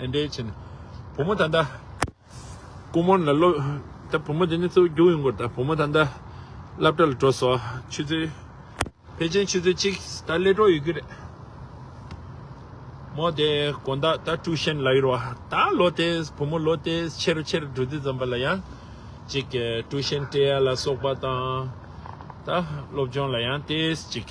ཨེ་འདྲའི་ཆེ་ནི། བུ་མོ་ད་ལྟ། སྐུ་མོ་ལ་སློབ། ད་བུ་མོ་དེ་ནི་གཙོ་བོ་རྒྱུགས་ཡོང་དགོས་ད་བུ་མོ་ད་ལྟ། སླབ་གྲྭ་ལ་འགྲོ་སོ། ཆུ་ཚོད། ཕལ་ཆེན་ཆུ་ཚོད་གཅིག་ད་སླེ་གྲོགས་ཡོད་ཀྱི་རེད། མོ་དེ་དགོན་བདག་ད་ཀྲུའུ་ཞན་ལ་ཡོད་རོགས་ད་ལོ་དེ་བུ་མོ་ལོ་དེ་ཆེ་རུ་ཆེ་རུ་འགྲོ་དུས་ཙམ་པ་ལ་ཡང། ཅིག་ཀྲུའུ་ཞན་བཀྲེས་ཡ་ལ་སོགས་པ་དང། ད་སློབ་སྦྱོང་ལ་ཡང་དེ་ཅིག།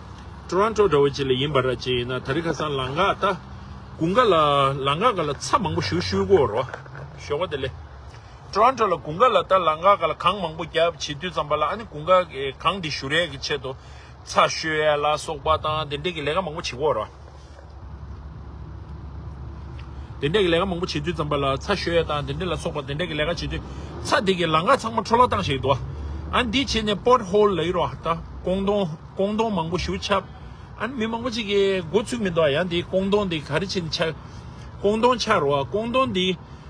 Toronto འདྲ་བོ་ཅིག་ལ་ཡིན་པ་ར་ཅིག་ཡིན་ན་ད་རི་ཁ་སང་ལང་ག་ད་གུང་ག་ལ་ལང་ག་ག་ལ་ཚ་མང་པོ་བཞུ་ཤུལ་གོ་རོ་ཞོ་ག་དེ་ལེ Toronto ལ་གུང་ག་ལ་ད་ལང་ག་ག་ལ་གང་མང་པོ་རྒྱབ་བྱེད་དུས་ཙམ་པ་ལ་ཨ་ནི་གུང་ག་གང་དེ་བཞུ་རེས་ཀྱི་ཆེད་དུ་ཚ་ཤོད་ཡ་ལ་སོག་པ་དང་དེ་འདྲེ་གི་ལས་ཀ་མང་པོ་བྱེད་གོ་རོ། དེ་འདྲ་གི་ལས་ཀ་མང་པོ་བྱེད་དུས་ཙམ་པ་ལ་ཚ་ཞོས་ཡ་དང་དེ་འདྲ་ལ་སོགས་པ་དེ་འདྲ་གི་ལས་ཀ་བྱེད་དུས་ཚ་དེ་གི་ལང་ཀ་ཚང་མ་འཕྲོ་བརླག་བཏང་ཞེས་དུ་ཨ་འདི་བྱེད་ནས་པོར་ཧོལ་ལ་ཡི་རོ་ད་ཀོང་ཏོང་ཀོང་ཏོང་མང་པོ་ཞུ་ཆབ་ཨ་མི་མང་པོ་གཅིག་གི་འགོ་ཚུགས་མི་འདུག་ཡ་འདི་ཀོང་ཏོང་འདི་ག་རེ་བྱེད་ནས་ཆགས་ཀོང་ཏོང་ཆགས་རོ་ཀོང་ཏོང་འདི་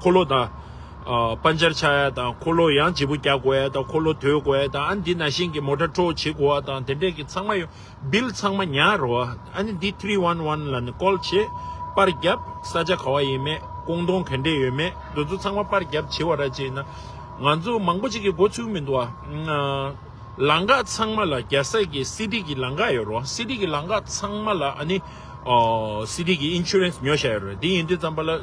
འཁོར་ལོ་དང། པཱ་ཉྱར་ཆ་ཡ་དང་འཁོར་ལོ་ཡང་བྱེད་པོ་རྒྱག་དགོས་ཡ་དང་འཁོར་ལོ་དོད་དགོས་ཡ་དང་ཨ་ནི་འདི་ན་ཤིང་གི་མོ་ཏྲ་ཁྲོ་བོ་བྱེད་དགོས་ཡ་དང་དེ་འདྲས་ཀྱི་ཚང་མ་ཡོད་བིལ་ཚང་མ་ཉར་རོ། ཨ་ནི་འདི་ཐྲི་ཝན་ཝན་ལ་ནི་ཀོལ་བྱེད། པར་རྒྱབ། ས་ཆ་ག་བ་ཡིན་མེད་ཀོང་ཏོང་ག་འདྲས་ཡོད་མེད་འདུ་ཚོ་ཚང་མ་པར་རྒྱབ་བྱེད་བ་ར་བྱེད་ན། ང་ཚོ་མང་པོ་ཅིག་གི་འགོ་ཚུགས་མི་འདུག་ཨ། ལང་ཀ་ཚང་མ་ལ་རྒྱ་ས་ཀྱི་སི་ཏི་གི་ལང་ཀ་ཡོད་རོ་སི་ཏི་གི་ལང་ཀ་ཚང་མ་ལ་ཨ་ནི། སི་ཏི་གི་ཨིན་ཆུ་རེན་སི་ཉོ་བྱ་ཡོད་རོ་དེ་ཡིན་དུས་ཙམ་པ་ལ།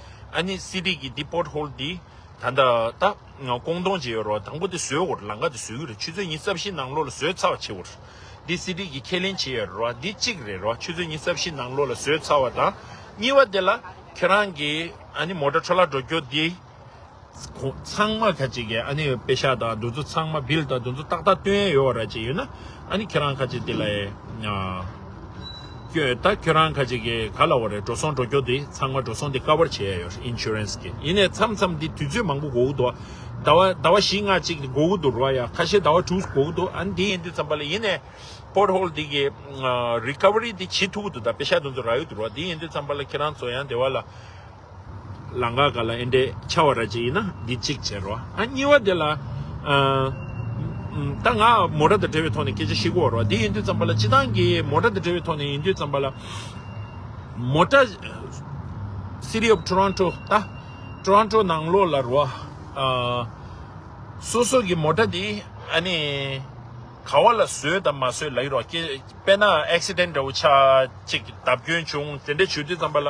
ཨ་ནི་སི་ཏི་གིས་འདི་པོར་ཧོལ་འདི་ད་ལྟ་ད་ཀོང་ཏོང་བྱེད་ཡོད་རོགས་དང་པོ་འདི་བཟོས་འོར་ལང་ཀ་འདི་བཟོས་ཀྱི་རེད་ཆུ་ཚོད་གཉིས་རྩ་བཞི་ནང་ལོ་ལ་བཟོས་ཚར་བ་བྱེད་འོར་འདི་སི་ཏི་གིས་ཁས་ལེན་བྱེད་ཡོད་རོགས་འདི་གཅིག་རེད་རོགས་ཆུ་ཚོད་གཉིས་རྩ་བཞི་ནང་ལོ་ལ་བཟོས་ཚར་བ་དང་གཉིས་བ་འདི་ལ་ཁྱེད་རང་གིས་ཨ་ནི་མོ་ཏྲ་ཁྲོ་ལ་འགྲོ་རྒྱུ་འདི། ཁོང་ཚང་མ་ཁ་ཅིག་གིས་ཨ་ནེའི་དཔེ་ཤག་དང་འདུ་འཛོ་ཚང་མ་བིལ་དང་འདུ་འཛོ་ཏག་ཏག་སྟོན་ཡས་ཡོད་ར་ཅིག་ཡོད་ན་ཨ་ནི་ཁྱོད་རང་ཁ་ཅིག་དེ་ལ་ཡསྐྱོད་ད་ཁྱོད་རང་ཁ་ཅིག་གིས་ག་ལ་བ་རེད་འགྲོ་སོང་འགྲོ་སྐྱོ་དེ་ཚང་མ་འགྲོ་སོང་དེ་ཀ་བར་བྱས་ཡས་ཡོད Insurance གིས་ཡིན་ནས་མཚམས་མཚམས་དེ་དུས་ཚོད་མང་པོ་འགོ་གི་འདུག་ཟླ་བ་ཟླ་བ་བཞི་ལྔ་ཅིག་དེ་འགོ་གི་འདུག་རུ་བ་ཡ་ཁ་ཤས་ཟླ་བ་དྲུག་འགོ་གི་འདུག་ཨ་ནི་དེ་ཡིན་དུས་ཙམ་པ་ལ་ཡིན་ནས Port Hole དེ་གི Recovery དེ་བྱེད་ཐུབ་གི་འདུག་ད་དཔེ་ཤག་འདུ་འཛོ་ར་ཡོད་དུ་རུ་བ་དེ་ཡིན་དུས་ཙམ་པ་ལ་ཁྱེད་རང་ཚོ་ཡང་དེ་བ་ལ། ལང་ཀ་ག་ལ་ཨེ་འདྲས་ཆ་བ་ར་གཅིག་ཡིན་ན་འདི་གཅིག་བྱེད་རོགས་ཨ་གཉིས་བ་དེ་ལ་ད་ང་མོ་ར་དང་བྲལ་བའི་ཐོག་ནས་སྐད་ཆ་ཞིག་འོ་རོགས་དེ་ཡིན་དུས་ཙམ་པ་ལ་སྤྱི་བཏང་གི་མོ་ར་དང་བྲལ་བའི་ཐོག་ནས་ཡིན་དུས་ཙམ་པ་ལ་མོ་ར City of Toronto ད Toronto ནང་ལོགས་ལ་རོགས་སོ་སོ་གི་མོ་ར་དེ་ཨ་ནི་ག་བ་ལ་བཟོས་དང་མ་བཟོས་ལ་ཡིན་རོགས་དཔེར་ན Accident འདྲ་བོ་ཆགས་གཅིག་བརྡབ་སྐྱོན་བྱུང་དེ་འདྲ་བྱུས་དུས་ཙམ་པ་ལ།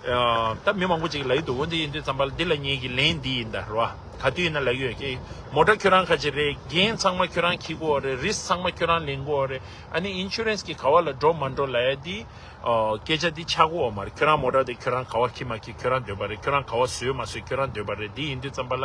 ད་མི་མང་པོ་ཅིག་ལ་ཡིད་དུ་འོང་དེ་ཡིན་དུས་ཙམ་པ་ལ་འདི་ལ་ངེད་ཀྱི་ལན་འདི་ཡིན་ད་རེད་བ། ག་དུས་ཡིན་ན་ལག་ཡོད་ཀྱི། མོ་དྲ་ཁྱོད་རང་ཁ་ཆེ་རེད་རྒན་ཚང་མ་ཁྱོད་རང་ཁྱི་གོ་རེད་རིས་ཚང་མ་ཁྱོད་རང་ལེན་གོ་རེད་ཨ་ནི Insurance གི་ག་བ་ལ་འགྲོ་མ་འགྲོ་ལ་ཡ་འདི། སྐད་ཆ་འདི་ཆག་གོ་འོ་མ་རེད་ཁྱོད་རང་མོ་དྲ་དེ་ཁྱོད་རང་ག་བ་ཁྱི་མ་ཁྱི་ཁྱོད་རང་འདོད་པ་རེད་ཁྱོད་རང་ག་བ་ཟོས་མ་ཟོས་ཁྱོད་རང་འདོད་པ་རེད་འདི་ཡིན་དུས་ཙམ་པ་ལ།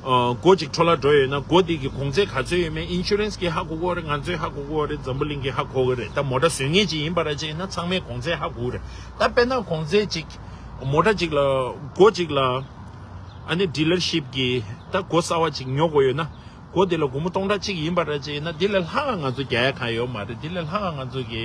སྒོ་གཅིག་འཕྲོ་བརླག་འགྲོ་ཡོད་ན་སྒོ་དེ་གི་གོང་ཚད་ག་ཚོད་ཡོད་མེད Insurance གིས་ཧ་གོ་གོ་རེད་ང་ཚོས་ཧ་གོ་གོ་རེད་འཛམ་བུ་གླིང་གིས་ཧ་གོ་གི་རེད་ད་མོ་དྲ་ཟོས་ངེས་ཅིག་ཡིན་པ་ར་བྱས་ན་ཚང་མས་གོང་ཚད་ཧ་གོ་གི་རེད་ད་དཔེར་ན་གོང་ཚད་ཅིག་མོ་དྲ་ཅིག་ལ་སྒོ་གཅིག་ལ་ཨ་ནི Dealership གིས་ད་སྒོ་གསར་བ་ཅིག་ཉོ་གོ་ཡོད་ན་སྒོ་དེ་ལ་དགུང་མོ་སྟོང་ཕྲག་གཅིག་ཡིན་པ་ར་བྱས་ན་དེ་ལས་ལྷག་ང་ཚོ་རྒྱལ་ཡ་གང་ཡོད་མ་རེད་དེ་ལས་ལྷག་ང་ཚོ་གི།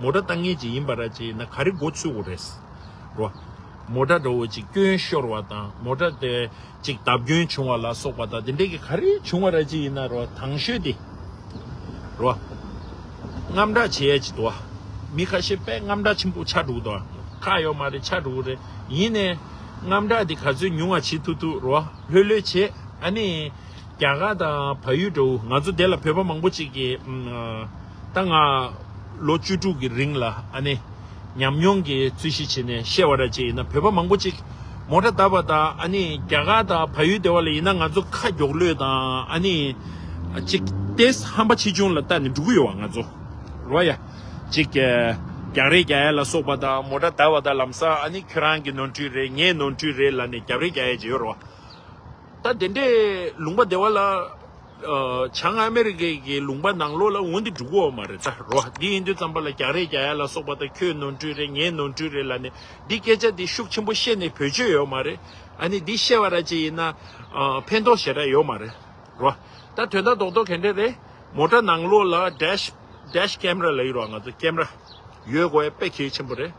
མོ་ཏྲ་བཏང་ངེས་ཅིག་ཡིན་པ་ར་ཅིག་ན་ག་རེ་མགོ་ཚུད་འོ་རེད། རོ། མོ་ཏྲ་འགྲོ་འོ་ཅིག་སྐྱོན་ཤོར་བ་དང་མོ་ཏྲ་དེ་ཅིག་བརྡབ་སྐྱོན་བྱུང་བ་ལ་སོགས་པ་དང་དེ་འདྲས་ཀྱི་ག་རེ་བྱུང་བ་ར་ཅིག་ཡིན་ན་རོ་དྭངས་ཤོས་དེ། རོ། རྔམ་དྲག་བྱེད་ཡ་ཅིག་འདུག་བ། མི་ཁ་ཤས་པས་རྔམ་དྲག་ཆེན་པོ་ཆགས་འདུག་དོ། ཁག་ཡོག་མ་རེད་ཆགས་འདུག་རེད། ཡིན་ནས། རྔམ་དྲག་དེ་ག་ཚོད་ཉུང་བ་བྱེད་ཐུབ་ཐུབ་རོ་ལྷོད་ལྷོད་བྱེད། ཨ་ནི། རྒྱ་གར་དང་བལ་ཡུལ་འདྲ་བོ་ང་ཚོ་དེ་ལ་བོད་པ་མང་པོ་ཅིག་གིས། ད་ང་ལོ་བཅུ་དྲུག་གི་རིང་ལ་ཨ་ནེ་ཉམས་མྱོང་གི་རྩོད་གཞི་བྱས་ནས་བཤད་བ་ར་བྱས་ཡིན་ན་བོད་པ་མང་པོ་ཅིག་མོ་ཏྲ་བཏབ་པ་དང་ཨ་ནེ་རྒྱ་གར་དང་བལ་ཡུལ་སྡེ་བ་ལ་ཡིན་ན་ང་ཚོ་ཁ་མགྱོགས་ལོས་དང་ཨ་ནེ་ཅིག་ཏེས་ཧམ་པ་ཆེ་ཆུང་ལ་བལྟ་ནས་འགྲོ་གི་ཡོད་བ་ང་ཚོ་རོ་ཡ་ཅིག་རྒྱག་རེ་རྒྱ་ཡ་ལ་སོགས་པ་དང་མོ་ཏྲ་བཏབ་བ་དང་ལམ་སང་ཨ་ནེ་ཁྱོད་རང་གི་ནོར་འཁྲུལ་རེད་ངའི་ནོར་འཁྲུལ་རེད་ལ་ནས་རྒྱབ་རེ་རྒྱ་ཡ་བྱས་ཡོད་རོ་ད་དེ་འདྲའི་ལུང་པ་སྡེ་བ་ལ། བྱང་ཨ་མེ་རི་ཁའི་གི་ལུང་པ་ནང་ལོགས་ལ་འོང་དེ་འགྲུག་གོ་མ་རེད་ད་རོ་འདི་ཨིན་དུས་ཙམ་པ་ལ་རྒྱག་རེས་རྒྱག་ཡ་ལ་སོགས་པ་ད་ཁྱོད་ནོར་འཁྲུལ་རེད་ངས་ནོར་འཁྲུལ་རེད་ལ་ནི་འདི་སྐད་ཆ་འདི་ཤུགས་ཆེན་པོ་བཤད་ནི་བོད་ཆོས་ཡོད་མ་རེད་ཨ་ནི་འདི་བཤད་བ་ར་ཅིག་ཡིན་ན་ཕན་ཐོག་ཞེ་ར་ཡོད་མ་རེད་རོ་ད་དོན་དག་རྡོག་རྡོག་གན་འདྲེ་རེད་མོ་ཏྲ་ནང་ལོགས་ལ dash dash camera ལ་ཡོད་རོ་ང་ཚོ camera ཡོད་གོ་ཡ་དཔེ་གལ་ཆེན་པོ་རེད།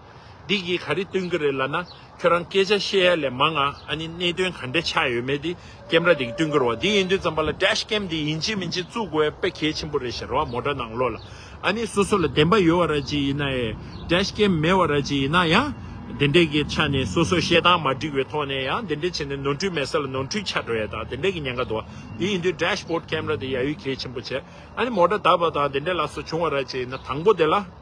འདི་གིས་ག་རེ་སྟོན་གི་རེད་ལ་ན་ཁྱོད་རང་སྐད་ཆ་བཤད་ཡ་ལས་མང་ང་ཨ་ནི་གནད་དོན་ག་འདྲེ་ཆགས་ཡོད་མེད་དེ་ཀེམ་ར་དེ་གི་སྟོན་གི་རོ་བ་དེ་ཡིན་དུས་ཙམ་པ་ལ Dash Cam དེ་ཡིན་ཅི་མིན་ཅི་བཙུག་དགོས་ཡ་པེ་གལ་ཆེན་པོ་རེད་ཞེ་རོ་བ་མོ་དྲ་ནང་ལོ་ལ་ཨ་ནི་སོ་སོ་ལ་བདེན་པ་ཡོད་བ་ར་ཅི་ཡིན་ན་ཡ Dash Cam མེད་བ་ར་ཅི་ཡིན་ན་ཡ་དེ་འདྲེ་གི་ཆ་ནས་སོ་སོ་བཤད་སྟངས་མ་འགྲིག་བའི་ཐོག་ནས་ཡ་དེ་འདྲེ་བྱེད་ནས་ནོར་འཁྲུལ་མེད་ས་ལ་ནོར་འཁྲུལ་ཆགས་འགྲོ་ཡ་དང་དེ་འདྲེ་གི་ཉེན་ཁ་འདུག་བ་དེ་ཡིན་དུས Dash Board Camera དེ་ཡ་ཡོད་གལ་ཆེན་པོ་བྱེད་ཨ་ནི་མོ་དྲ་དར་བ་དང་དེ་འདྲེ་ལ་སོ་བྱུང་བ་ར་ཅི་ཡིན་ན་དང་པོ་དེ་ལ།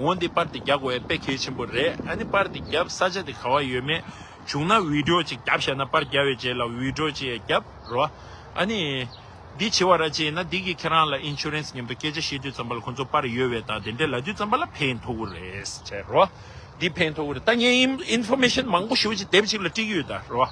འོན་ཏེ་པར་དེ་རྒྱག་དགོས་པའི་དཔེ་གལ་ཆེན་པོ་རེད་ཨ་ནི་པར་དེ་རྒྱབ་ས་ཆ་དེ་ག་བ་ཡོད་མེད་བྱུང་ན་འུད་སྒྲོག་ཅིག་རྒྱབ་ཤ་ན་པར་རྒྱབ་བའི་རྗེས་ལ་འུད་སྒྲོག་ཅིག་ཡས་རྒྱབ་རོ་ཨ་ནི། འདི་བྱེད་བ་ར་ཅི་ཡིན་ན་འདི་གིས་ཁྱེད་རང་ལ Insurance ཉམས་དོ་སྐད་ཆ་བཤད་དུས་ཙམ་པར་ལ་ཁོ་ཚོ་པར་ཡོད་བས་ད་དེ་འདྲས་ལ་དུས་ཙམ་པར་ལ་ཕན་མཐོ་གུ་རེད་ཟེར་རོ། འདི་ཕན་མཐོ་གུ་རེད་ད་ངས Information མང་པོ་ཞུ་བ་ཅིག་དེབ་ཅིག་ལ་བཀྲིགས་ཡོད་ད་རོ།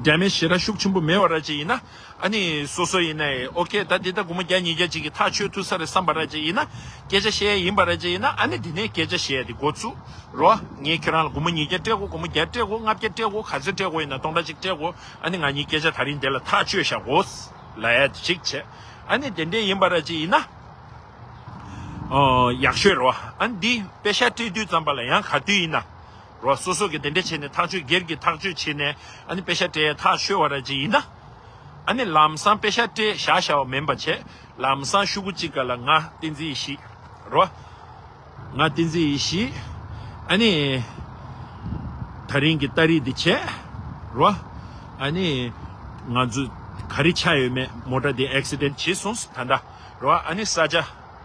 འབྲལ་མེད་ཞེས་ར་ཤུགས་ཆེན་པོ་མེད་བ་ར་བཅས་ཡིན། ཨ་ནི། སོ་སོ་ཡིན། ཨོ་ཁེ་ད་འདི་ད་དགུ་མ་བརྒྱ་ཉིས་བརྒྱ་གཅིག་གི་ཐག་ཆོད་ཐུག་ས་རེད་བསམ་པ་ར་བཅས་ཡིན། སྐད་ཆ་བཤད་ཡ་ཡིན་པ་ར་བཅས་ཡིན། ཨ་ནི་འདི་ནས་སྐད་ཆ་བཤད་དེ་འགོ་ཚུགས་རོགས། ངས་ཁྱོད་རང་ལ་དགུ་མ་ཉིས་བརྒྱ་སྤྲད་གོ་དགུ་མ་བརྒྱ་སྤྲད་གོ་ལྔ་བརྒྱ་སྤྲད་གོ་ག་ཚོད་སྤྲད་གོ་ཡིན་ན་སྟོང་ཕྲག་གཅིག་སྤྲད་གོ། ཨ་ནི་ང་གཉིས་སྐད་ཆ་ད་རིང་འདི་ལ་ཐག་ཆོད་བཞག་གོ། ལད་ཅིག་བྱས། ཨ་ནི་དེ་འདྲས་ཡིན་པ་ར་བཅས་ཡིན། ཡག་ཤོས་རོགས། ཨ་ནི་འདི་དཔེ་ཤ་སྤྲད་དུས་ཙམ་པ་ལ་ཡང་ག་དུས་ཡིན། རོ་སོ་སོ་གི་དེ་འདྲ་བྱས་ནས་ཐག་གཅོད་སྒེར་གྱི་ཐག་གཅོད་བྱས་ནས་ཨ་ནི་དཔེ་ཤ་སྤྲས་ཐག་ཆོད་བ་ར་ཅིག་ཡིན་ན། ཨ་ནི་ལམ་སང་དཔེ་ཤ་སྤྲས་བཞག་བཞག་བ་མིན་པ་བྱས་ལམ་སང་ཤུ་གུ་གཅིག་ག་ལ་ང་བསྟན་འཛིན་ཞིག་རོ། ང་བསྟན་འཛིན་ཡིན་ཞིག་ཨ་ནི། ད་རིང་གི་ལྟ་རིས་འདི་བྱས་རོ། ཨ་ནི། ང་ཚོ་ག་རེ་ཆ་ཡོད་མེད་མོ་ཏྲ་འདི་ཨེཀ་སི་དན་བྱེད་སོང་ད་འདྲ་རོ་ཨ་ནི་ས་ཆ།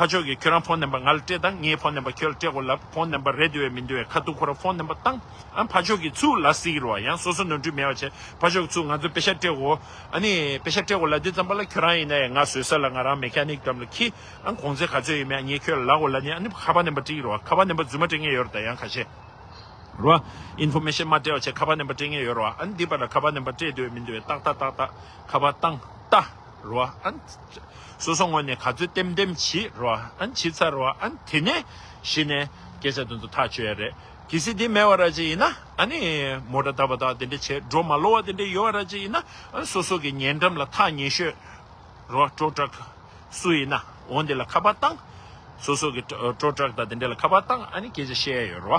ཕ་ཆོས་ཀྱིས་ཁྱོད་རང་ཕོ་ནེམ་པ་ང་ལ་སྤྲད་དང་ངས་ཕོ་ནེམ་པ་ཁྱོད་ལ་སྤྲད་གོ་ལབ་ཕོ་ནེམ་པ་རེད་འདོད་ཡ་མི་འདོད་ཡ་ཁ་ཐུག་ཁོ་རང་ཕོ་ནེམ་པ་བཏང་ཨ་ཕ་ཆོས་ཀྱིས་ཚུར་ལ་སིག་རོ་ཡང་སོ་སོ་ནོར་འཁྲུལ་མེད་པ་བྱས་ཕ་ཆོས་ཀྱིས་ཚུར་ང་ཚོ་པེ་ཤ་སྤྲད་གོ་ཨ་ནི་པེ་ཤ་སྤྲད་གོ་ལ་དེ་ཙམ་པ་ལ་ཁྱོད་རང་ཡིན་ན་ཡ་ང་བཟོད་ས་ལ་ང་རང་མེ་ཁ་ནིག་ཏམ་ལ་ཁི་ཨ་གོང་ཚད་ག་ཚོད་ཡོད་མེད་ཨ་ངས་ཁྱོད་ལ་ལ་གོ་ལ་ནི་ཨ་ནི་ཁ་པ་ནེམ་པ་སྤྲིག་རོ་ཁ་པ་ནེམ་པ་རྫུན་མ་སྤྲད་ངེས་ཡོད་རོ་ད་ཡང་ཁ་ཤས་རོ་ཨ Information མ་སྤྲད་བ་བྱས་ཁ་པ་ནེམ་པ་སྤྲད་ངེས་ཡོད་རོ་ཨ་ཨ་ནི་འདི་པ་ལ་ཁ་པ་ནེམ་པ་སྤྲད་འདོད་ཡ་མི་འདོད་ཡ་ཏག་ཏག་ཏག་ཏག་ཁ་པ་བཏང་ཏག་རོ་ཨན། སོ་སོ་ངོ་ནས་ག་ཚོད་ལྟེམ་ལྟེམ་བྱིས་རོ་ཨན་བྱིས་ཚར་རོ་ཨན་དེ་ནས་གཞི་ནས་སྐད་ཆ་དེ་ཚོ་ཐག་ཆོད་ཡ་རེད་གི་སི་དེ་མེད་བ་ར་ཅི་ཡིན་ན་ཨ་ནི་མོ་དགྲ་ད་བ་དག་དེ་འདྲ་བྱས་སྒྲོ་མ་ལོ་བ་དེ་འདྲ་ཡོད་བ་ར་ཅི་ཡིན་ན་སོ་སོ་གི་ཉེ་འགྲམ་ལ་ཐག་ཉེ་ཤོས་རོ་སྤྲོ་དྲག་སུ་ཡིན་ན་འོང་དེ་ལ་ཁ་པར་བཏང་སོ་སོ་གི་སྤྲོ་དྲག་དག་དེ་འདྲ་ལ་ཁ་པར་བཏང་ཨ་ནི་སྐད་ཆ་བཤད་ཡ་ཡོད་རོ།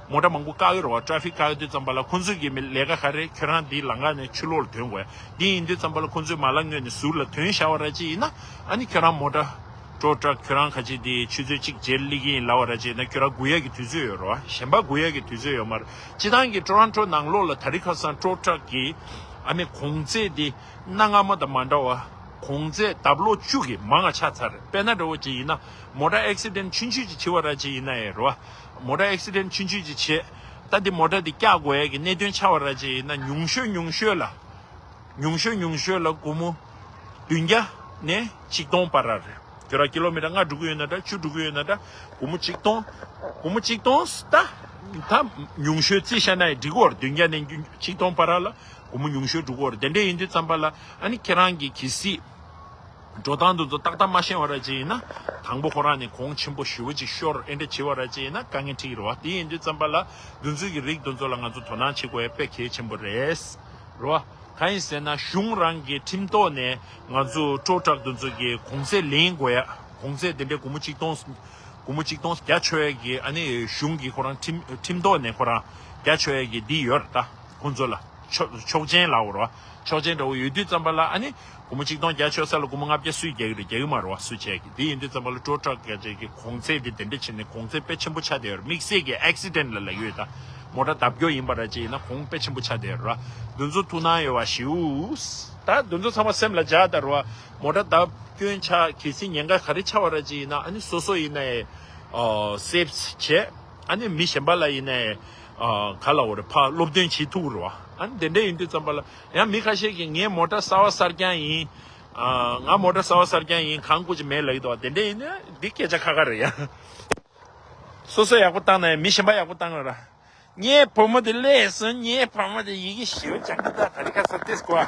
མོ་ཏྲ་མང་པོ་བཀག་ཡོད་རེད་བ Traffic བཀག་ཡོད་དུས་ཙམ་པ་ལ་ཁོ་ཚོས་ཀྱི་མི་ལས་ཀ་ག་རེད་ཁྱོད་རང་དེའི་ལང་ཀ་ནས་ཆུ་ལོག་ལ་དོན་དགོས་དེ་ཡིན་དུས་ཙམ་པ་ལ་ཁོ་ཚོས་མ་ལ་ངོས་ནས་ཟུར་ལ་དོན་བཞག་བ་ར་ཅི་ཡིན་ན་ཨ་ནི་ཁྱོད་རང་མོ་ཏྲ། Tow Truck ཁྱོད་རང་ག་ཅིག་དེའི་ཆུ་ཚོད་གཅིག་རྗེས་སླེ་གི་ཡིན་ལ་བ་ར་ཅི་ཡིན་ན་ཁྱོད་རང་དགུ་ཡ་གི་དུས་ཚོད་ཡོད་རེད་བ་གཞན་པ་དགུ་ཡ་གི་དུས་ཚོད་ཡོད་མ་རེད་སྤྱི་ཐང་གི Toronto ནང་ལོག་ལ་ད་རི་ཁ་སང Tow Truck གི་ཨ་ནི་གོང་བརྩེགས་དེ་གནའ་སྔ་མོ་དང་མ་འདྲ་བ་གོང་བརྩེགས་དབབ་ལོག་བཅུག་གི་མང་ང་ཆ་ཚར་པས་ན་འདྲ་བོ་ཅི་ཡིན་ན་མོ་ཏྲ Accident ཆུན་ཆུད་ཅིག་བྱི་བ་ར་ཅི་ཡིན་ན་ཨེ་རེད་བ། མོ་ཏར Accident ཆུ་འཇུས་ཀྱི་ཆེད་ད་དེ་མོ་ཏར་དེ་བཀྱག་དགོས་ཡས་ཀྱི་གནད་དོན་ཆགས་བ་ར་ཅིག་ཡིན་ན་ཉུང་ཤོས་ཉུང་ཤོས་ལ། ཉུང་ཤོས་ཉུང་ཤོས་ལ་སྒོར་མོ་བདུན་བརྒྱ་ནས་གཅིག་སྟོང་བར་ར་རེད་གྱོད་ར་ཀི་ལོ་མི་ཏར་ལྔ་འགྲོ་གི་ཡོད་ན་འདྲ་བཅུ་འགྲོ་གི་ཡོད་ན་འདྲ་སྒོར་མོ་གཅིག་སྟོང་སྒོར་མོ་གཅིག་སྟོང་ད་ད་ཉུང་ཤོས་རྩིས་ཤ་ནའི་འགྲིག་གོ་བདུན་བརྒྱ་ནས་གཅིག་སྟོང་བར་ར་ལ་སྒོར་མོ་ཉུང་ཤོས་འགྲོ་གོ་ར་དེ་འདྲས་ཡིན་དུས་ཙམ་པ་ལ་ཨ་ནི་ཁྱེད་རང་གི་གི་སྲིད། འགྲོ་སྟངས་འདི་ཚོ་ཏག་ཏག་མ་ཤེས་བ་ར་ཅིག་ཡིན་ན། དང་པོ་ཁོ་རང་ནས་གོང་ཆེན་པོ་ཞི་བ་ཅིག་ཤོར་ཨེ་འདྲ་བྱེད་བ་ར་ཅིག་ཡིན་ན་དཀའ་ངལ་འཁྲིག་རོ། དེ་ཡིན་དུས་བརྩམས་པ་ལ་རྒྱུན་འཛུལ་གྱི་རིགས་འདི་ཚོ་ལ་ང་ཚོ་དོ་སྣང་བྱེད་དགོས་ཡ་པེ་གལ་ཆེན་པོ་རེད། རོ། གང་ཡིན་ཟེར་ན་གཞུང་རང་གི་ཁྲིམས་ཐོག་ནས་ང་ཚོ་སྤྲོ་དྲག་འདི་ཚོ་གི་གོང་ཚད་ལེན་དགོས་ཡ། གོང་ཚད་དེ་འདྲའི་དགུ་མོ་གཅིག་སྟོང། དགུ་མོ་གཅིག་སྟོང་བརྒྱ་ཆོད་ཡ་གི་ཨ་ནི་གཞུང་གི་ཁོ་རང་ཁྲིམས་ཁྲིམས་ཐོག་ནས་ཁོ་རང་བརྒྱ་ཆོད་ཡ་གི་འདི་ཡོད་ར་ད་ཁོང་ཚོ་ལ། ཆོག་མཆན་ལའོ་རོ། ཆོག་མཆན་འདྲ་བོ་ཡོད་དུས་རྩམ་པ་ལ་ཨ་ནི། དགུ་མོ་ཆིག་སྟོང་རྒྱ་ཆོད་ས་ལ་དགུ་མོ་ལྔ་བརྒྱ་སུས་རྒྱག་གི་རེད་རྒྱག་གི་མ་རེད་བ་སུས་བྱས་ཀྱི་དེ་ཡིན་དུས་རྩམ་པ་ལ་སྤྲོ་དྲག་རྒྱ་ཆད་ཀྱི་གོང་ཚད་དེ་དེ་འདྲ་བྱས་ནས་གོང་ཚད་དཔེ་ཆེན་པོ་ཆགས་བསྡད་ཡོད་རེད་དམིགས་བསལ་གྱི Accident ལ་ལ་ཡོད་ད་མོ་དྲ་ལྡབ་སྐྱོ་ཡིན་པ་ར་ཅི་ཡིན་ན་གོང་དཔེ་ཆེན་པོ་ཆགས་བསྡད་ཡོད་རེད་བ་འདུ་འཛོ་ཐུགས་སྣང་ཡོད་བ་ཞེའུ། ད་འདུ་འཛོ་ཚང་མ་སེམས་ལ་འཇགས་ད་རེད་བ་མོ་དྲ་ལྡབ་སྐྱོན་ཆགས་གལ་སྲིད་ཉེན་ཁ་ག་རེ་ཆགས་བ་ར་ཅི་ཡིན་ན་ཨ་ནི་སོ་སོ་ཡིན་ན་ཡེ། Saves བྱས་ཨ་ནི་མི་གཞན་པ་ལ་ཡིན་ན་ཡེ། ག་ལ་འོར་ཕ་སློབ་སྟོན་བྱེད་ཐུག་རུ་ཨ་དེ་འདྲ་ཡིན་དུས་ཙམ་པ་ལ་ཡང་མི་ཁ་ཤས་ཀྱིས་ངས་མོ་ཏྲ་སར་བ་སར་རྐྱང་ཡིན་ང་མོ་ཏྲ་སར་བ་སར་རྐྱང་ཡིན་གང་བཀུར་ཅི་མེད་ལ་ཡི་དོ་དེ་འདྲ་ཡིན་ན་འདི་སྐད་ཆ་ཁ་ཁ་རེད་ཡ། སོ་སོ་ཡག་པོ་བཏང་ན་ཡང་མི་གཞན་པ་ཡག་པོ་བཏང་ར། ངའི་བུ་མོ་དེ་ལས་སོན་ངའི་བུ་མོ་དེ་ཡི་གེ་ཞིབ་ཅང་གི་ད་ག་རི་ཁ་སར་ཏེས་གོ་ཨ།